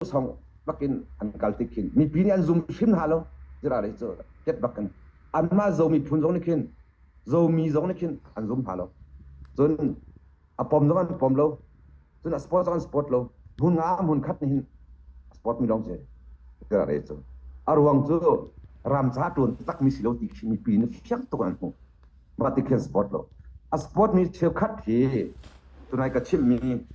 song bak in an kal tik khin mipi nih an zum hrim hna lo zira ri cu ket bak in anmah zomi phun zong nih khin zomi zong nih khin an zum hna lo cun a pom zong an pom lo cun a sport zong an sport lo hmun nga hmun khat nih hin a sport mi lawng si zira ri cu a ruang cu ramca tuan takmi si lo ti khi mipi nih fiang tuk an hmuh mah ti khin sport lo a sport mi cheukhat hi tunai ka chimhmi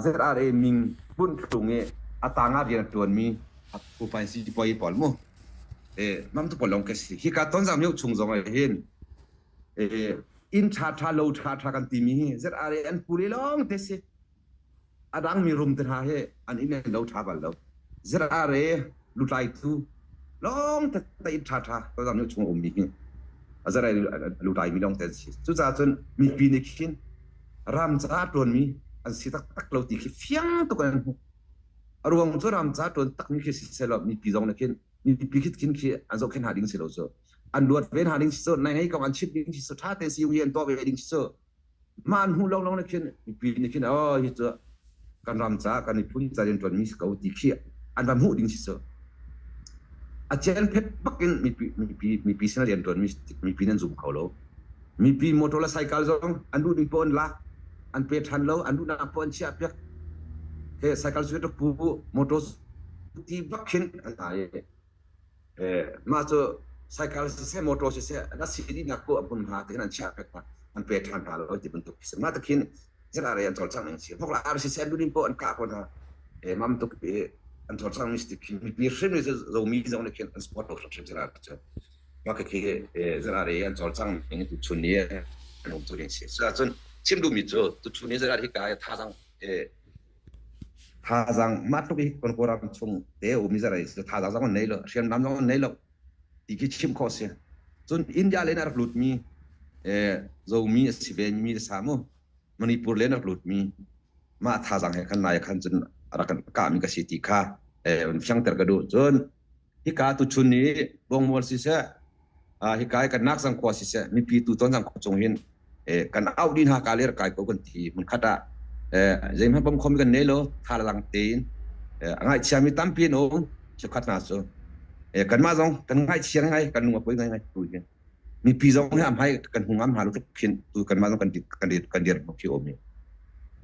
ZRA ming hmun chung i a tanga rian ṭuanmi upai sipuai pawl mu e namtu pawl lawng ka si hi ka tonzang mio chung zong ah hin e inn ṭha ṭha lo ṭha ṭha kan timi hi ZRA an pule lawng te si a dangmi rumte hna hi an inn an lo ṭha bal lo. Zirare lutlaitu lawng tette in ṭhaṭha ka zam chung a ummi hi a zarai lutlaimi lawng te an si. Cucaah cun mipi nih khin ramca ṭuanmi an si taktak lo ti khi fiang tuk an hmuh. A ruang cu ramca ṭuan takmi khi si sehlaw mipi zong nih khin mipi khitkin khi an zohkhenh hna ding si lo cu. An luat ve hna ding si cu, naih ngei ko an chimh ding si cu, ṭha te si u hi an tuah ve ding si cu, Mah an hmuh lo lawng na khin mipi na khin oh hi cu kan ram ca kan miphun ca rian ṭuanmi si ko ti khi an ram hmuh ding si cu a cian phet bak in mipi mipi mipi sin rian ṭuanmi mipi nan zum kho lo mipi motor le cycle zong an duh ning pawh an lak an pe ṭhan lo an duhnak pawh an chiah piak he cycle cu rak pu motor ti bak khin an ai Mah cu cycle siseh, motor siseh, an si dihnak ku a hmun hna ti khin an chiah pek hna, an pe ṭhan hna lo ti bantuk a si. Mah tuk hin ZRA an cawlcangh ning a si. Hmuk la RC siseh, lunin poh an kah ko hna. Mam tuk i an cawlcangh ning a si ti khin mi hrimhrim cu zomi zong nih khin an support lo hrimhrim ZRA cu. Mah khi ZRA an cawlcangh ning tuchun ni an um cu ding a si. Cuacun chim duhmi cu tuchun ni ZRA hi kai a thazaang Thazaang mah tluk hi kan Kawlram chung te umi zarai si thazaang zong an nei lo, hriamnam zong an nei lo ti khi chim khawh si. Cun India le in a rak lutmi zomi a si ve mi a sa mu Manipur le in a rak lutmi mah thazaang he khan nai khan cun a rak kan kahmi ka si ti kha fiangter ka duh cun hika tu chun i bongmual siseh hika hi kan nak zang khua siseh mipi tu ton zang khua chung hin kan out di hna ka ler kai ko kan ti mun khata zeim han pam khom kan ne lo tha lang tein ngai chia mi tam pin o chu khat na so kan ma zong kan ngai chia ngai kan lung apoi ngai ngai tu hin mi pi zong he am hai kan hung am ha lu tuk phin tu kan ma zong kan kan kan dir mo ki omi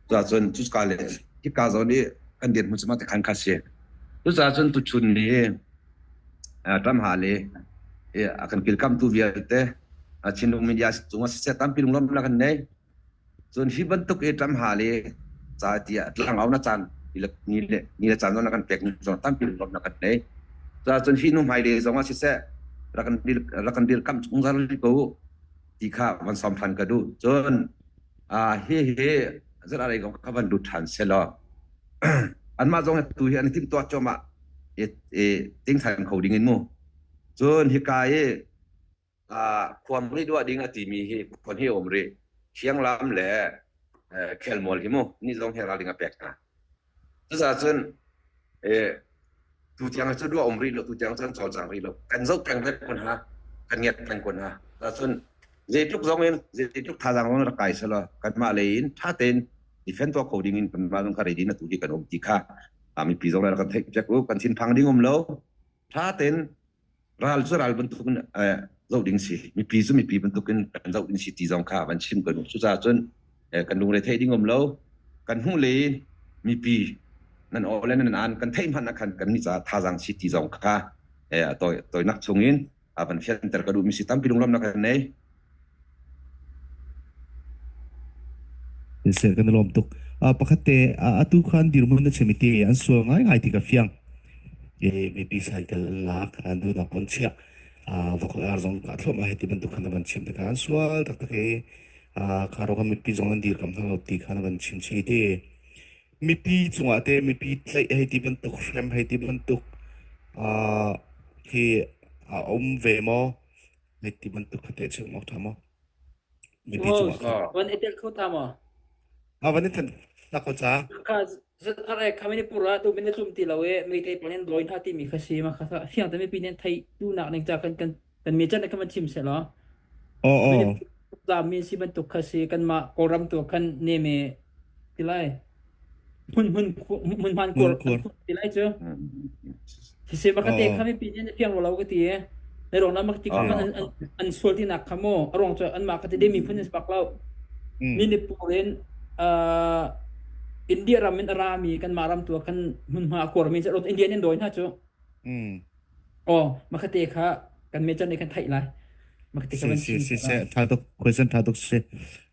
tu a chun tu ka le hi ka zong ni kan dir mu chuma te khan kha se tu cha chun tu chun ni ṭam hal i a kan kilkamtu vialte Chinlung media cungah siseh tampi lunglawmhnak an nei. Cun hi bantuk i ṭam hal i ca ti ah tlangau na caan ni le caan zong na kan pek ni zong tampi lunglawmhnak an nei. Cuacun hi nu hmai le zongah siseh rak kan dirkamh zungzal ko ti kha van sawm ṭhan ka duh. Cun hihi zan arei kong ka van lut ṭhan selaw anmah zong tu hi an i timhtuah cuahmah i tingthan kho ding in mu cun hika i khuang ri duah ding a timi hi khon hi um rih thiang lam le khelmual hi mu ni zong he ral ding a pek hna Cucaahcun tutiang cu duah um rih lo, tutiang cun cawlcang rih lo. Kan zoh peng hmet kun ha, kan ngiat peng kun ha. Cucaahcun zeitluk zongin, zeitluk thazaang zong rak kai selaw, kanmah lei in ṭha tein defend tuah kho ding in kanmah zong ka ready na tu hi kan um ti kha mipi zong rak kan theih check u. Kan thinphang ding um lo. ṭha tein ral cu ral bantuk in zoh ding si mipi cu mipi bantuk in kan zoh ding si ti zong kha van chim kan u cucaah cun kan lungre theih ding um lo kan hmuh le mipi nan aw le nan an kan theih hmanh ah khan kan ni ca thazang si ti zong kha toinak chung in van fianter ka duh mi si tampi lunglawmnak kan nei Thil kan lawm tuk. Pakhat te, atu khan dirmun na chimi ti an sual ngai ngai ti ka fiang. E, maybe cycle an lak, an du na kon chia. Vokal ar zong ka thlom a heti bantuk khan ban chim ta ka an sual tak tak e. Karo kam mipi zong an dir kam thang lo ti khan ban chim chi ti. Mipi chungah te, mipi tlai heti bantuk, frame heti bantuk, hi, a om ve mo. Like ti bantuk kha teh chum awk tha maw? Mipi Wow, cungah kha. van etel kho ta maw? Ah van in than na ko cha. Kha zat are kami ni pura tu bin tlum ti lo e mi thei panin loin ha ti mi kha si ma kha sa hiang ta mi pi nen thai tu nak ning cha kan kan kan mi chan kan man thim se lo. Oh Min oh. la min si ban tuk kha si kan ma Kawlram tu kan ne me tilai. hmunhman kor an kor ti lai cu hi se bakate kha mi pin na piang lo ka ti na rong na makti kha an sual ti nak kha mo a rong chu an ma ka ti de mi phun is bak lo mi ni purin India ram in ra mi kan ma ram tua kan hmunhma kor mi ro Indian in doi na chu Aw, makate kha kan mecan nih kan theih lai. Makate kha Si van si chim si si. lai. Tha tuk question tha tuk si.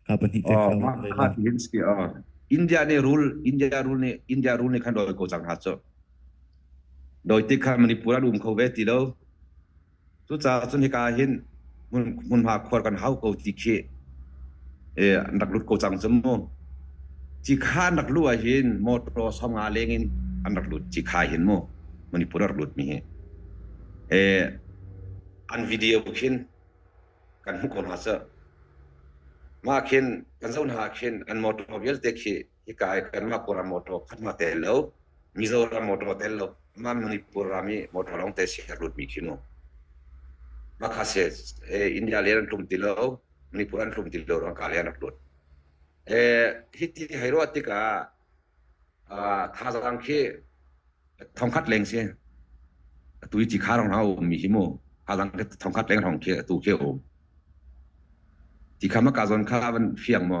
Ka pahnih te kha Oh, ma lei la. khatin ski oh. India ne rule India rule ne India rule ne khan doi ko chang ha cho. Doi ti kha Manipura dum kho ve ti lo. Tu cha chun he ka hin hmunhma khuar kan hau ko ti khi an rak lut ko cang cu mu ci kha an rak luh ah hin motor songa leng in an rak lut ci kha hin mu manipur rak lut mi hi an video khin kan hmu ko hna sir mah khin kan zoh hna khin an motor vialte khi hika kanmah kura motor khatma te lo mizoram motor te lo ma manipur rami motor long te si lut mi khinu makha se india le an tlum ti lo manipur an tlum ti lo rang ka le an lut eh hiti hairo atika thazang khi thongkhat leng se tui chi kharong hau mi himu thazang ke thongkhat leng rong khi tu ke o ti khama ka zon kha van fiang mo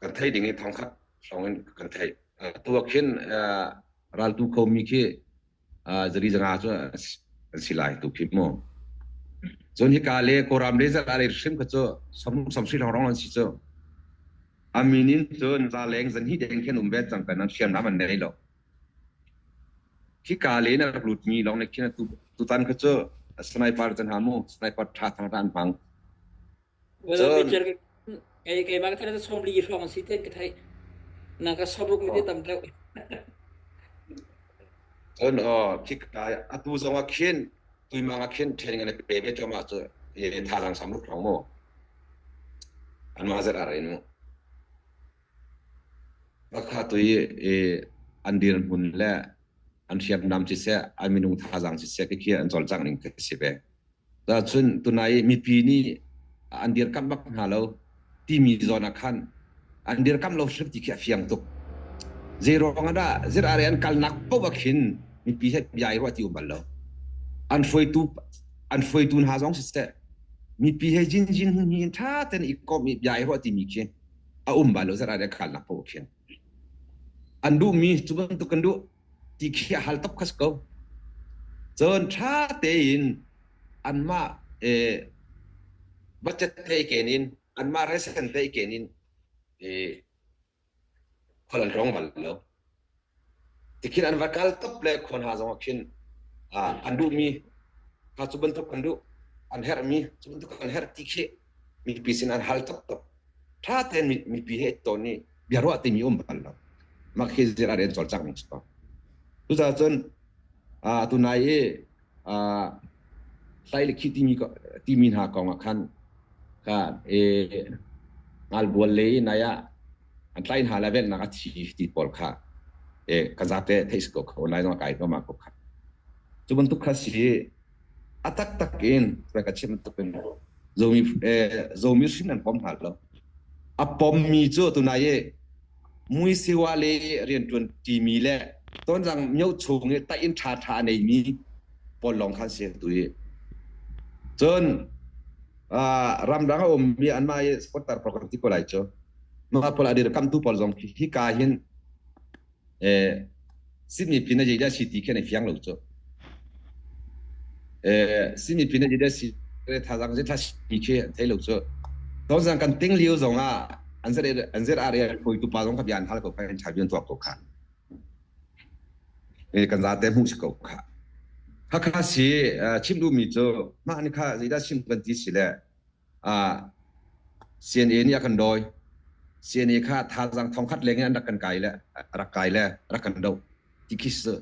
kan theih ding i thongkhat hrawng in kan theih tuak khin raltu komi khi zari zanga cu an si lai tu khi mu cun hi ka le koram le zala le hrim kha cu som som si long rong an si cu aminin cun za leng zan hi deng khen um ve chang kan an siam nam an nei lo khi ka le na lut mi long ne khin tu tu tan kha cu sniper jan ha mu sniper tha thang ran hmang Cun kei keimah ka thana som li hrawng si ten ka thai na ka sabruk mi te tam teu cun aw thik atu zong ah khin tuimang ah khin ṭhen ngane pe ve ṭom ah cu ye tha lang sam ruk rong mu anma zet ar in mu bakha tui i an dir hmun le an hriam nam ci se an minung thazang ci se ke kia an zol chang ning ka si ve Tahcun tunai mipi nih an dirkamh bak hna lo timi zawn ah khan an dirkamh lo hrim ti khi a fiang tuk. Zeiruang ah dah zir are an kalnak paoh ah khin mipi he bia i ruah ti um bal lo. An hruaitu an hruaitu hna zong siseh mipi he jinjin hin hin ṭha ten i komh i bia i ruah timi khi a um bal lo zir are an kalnak paoh ah khin. an duhmi cu bantuk kan duh ti khi a hal top khas ko cun ṭha tein anmah budget teiken in anmah resen teiken in khual an rawng bal lo tikhin an va kal top le khon ha zong khin an duhmi kha cu bantuk kan duh an herhmi cu bantuk kan herh ti khi mipi sin an hal taktak ṭha tein mipi he ton i biaruah timi um bal lo mah khi zir a rian cawlcang ning ko cucaah cun atu nai i hlai le khi timi timi hna kong ah khan ka e ngalbual le i nai ah an tlai hna le vennak a thi ti pawl kha e ka zate theis ko kho nai zong kai ko ma ko kha cu bantuk kha si A taktak in rak ka chim bantuk in zomi eh, zomi hrin an pom hna lo. A pommi cu tunai i muisiwa le riantuan timi le tonzang myo chung i tain tha tha nei mi pawl lawng khan si tu i cun ramdang a ummi anmah i sponsor program ti ko lai cu ma pol adir kamtu pawl zong hi hi ka hin Sydney pin a zeidah si ti khin a fiang lo cu. Sydney pin a zeidah si thazang zeitha si khi an thei lo cu. Tawzang kan ting liu zong ah an zir an zir area phui tu pa zong ka bian hal ko khan cha bian tuak ko kha. Eh kan za te mu si ko kha. Hakha si chim du mi cu mah ni kha zeidah sim kan ti si le CNA nih a kan dawi. CNA kha thazaang thongkhat leng in an rak kan kai le rak kai le rak kan do ti khi si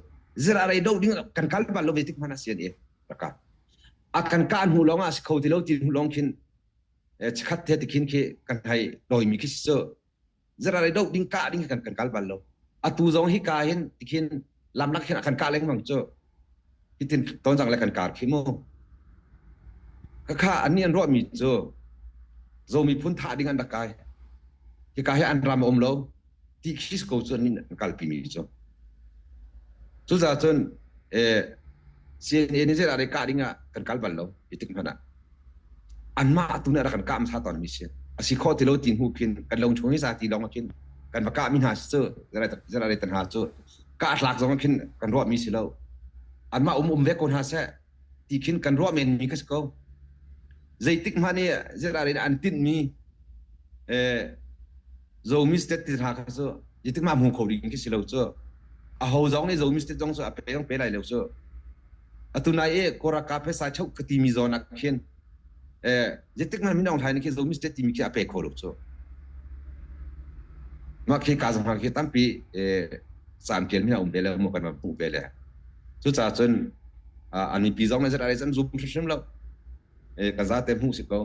zira rei do ding kan kal bal lo ve tik hmana CNA rak ka a kan ka hnu lawng a si kho ti lo ti hnu lawng khin chikhat te tikhin khi kan hai doi mi khi si zeral i doh ding kah ding kan kan kal bal lo atu zong hi ka hin tikhin lamlak hin kan ka lengmang cu hitin tonzang le kan kar khi mu kakha ani an ruahmi cu zomi phun tha ding an rak kai hi ka hi an ram om lo ti khis ko cu ani an kalpi mi cu cu za cun eh CNN ni zela re ka ding ah kan kal bal lo itik hmana anmah atu nih a rak kan kah hmasa tawnmi si a si khawh ti lo ti hnu khin kan lo chung i zati lawng ah khin kan va kah mi hna cu generator hna cu kah tlak zong ah khin kan ruah mi si lo anmah um um ve ko hna seh ti khin kan ruah men mi ka si ko zeitik hmanh i general in an tinh mi eh zomi state ti hna kha cu jetik ma hmu kho ding khi si lo cu a ho zong nih zomi state zong cu a pe zong pe lai lo cu atu nai e koraka phesa chau ka timi zon ak khin e jetik na min ong hlai ni khi zomi state timi khi ape kho lo chu ma khi ka zang khi tampi e sam kiel mina um bele mo kan ma bu bele chu cha chun ani pi zong na zara rai chan zum hrim lo e ka za te mu si ko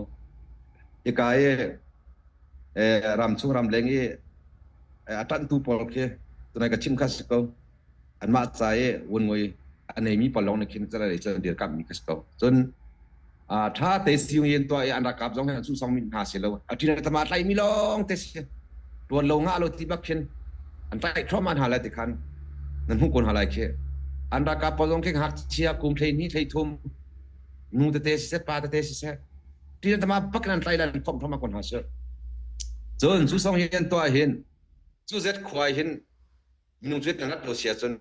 e ka e e ram chung ram leng e atan tu pol khi tunai ka chim kha si ko anmah ca i vunngoi a neimi pawl lawng nih khin celanei cu an dirkamhmi ka si ko cun ṭha te si yung yin tuah i an rakap zong hin sung min hna si lo a ṭi le tama tlaihmi lawng te si ṭuan lo ngah lo ti bak khin an tlaih thluahman hna lai ti khan nan hmuh kun hna lai khi an rakap pawl zong khin hngakchia kum thlei ni thlei thum nu tete si se pa tete si se ṭi le tama bak in an tlaih lan phom phoma kun hna si cun cu song hin tuah hin cu zet khuai hin minung cu kan rat lo si ahcun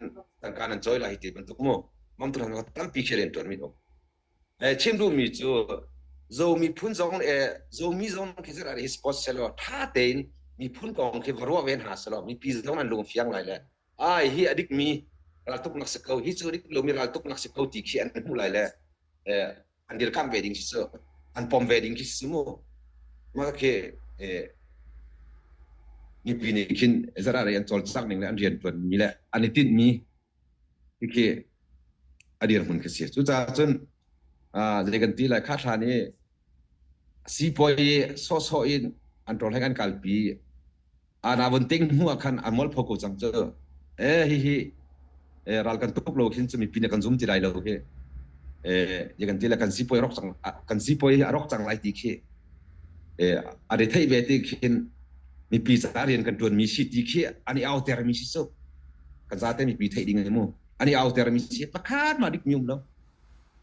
tangka nan cawi lai hi ti bantuk mu mamtu hna tampi khi rian tuan mi um chim duh mi cu zomi phun zong le zomi zong khi zara hi sports selo tha tein miphun kong khi va ruah ven ha selo mipi zong an lung fiang lai le ai hi adik mi raltuk nak si ko hi cu dik lomi raltuk nak si ko ti khi an hmu lai le an dirkamh ve ding si cu an pom ve ding khi si mu mah khi mipi nih khin zara rei an cawlcak ning le an rian tuan mi le an i tinh mi khi adir mun khi si cu ca cun zei kan ti lai kha thra ni sipuai so so in an tol heng an kalpi ana vun ting hnu ah khan a molpho ko cang cu eh hi hi eh ral kan tuk lo khin chumi pin kan zum ti lai lo hi eh ya kan ti la kan si poi rok cang kan si poi a rok cang lai ti khi eh a re thei ve ti khin mi pi sa rian kan tuan mi si ti khi ani auter mi si so kan za te mi pi thei ding mu ani auter mi si pakhat ma dik mium lo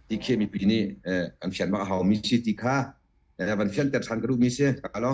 ti khi mi pi ni eh an fian ma hau mi si ti kha eh van fian ter than kru mi se ka lo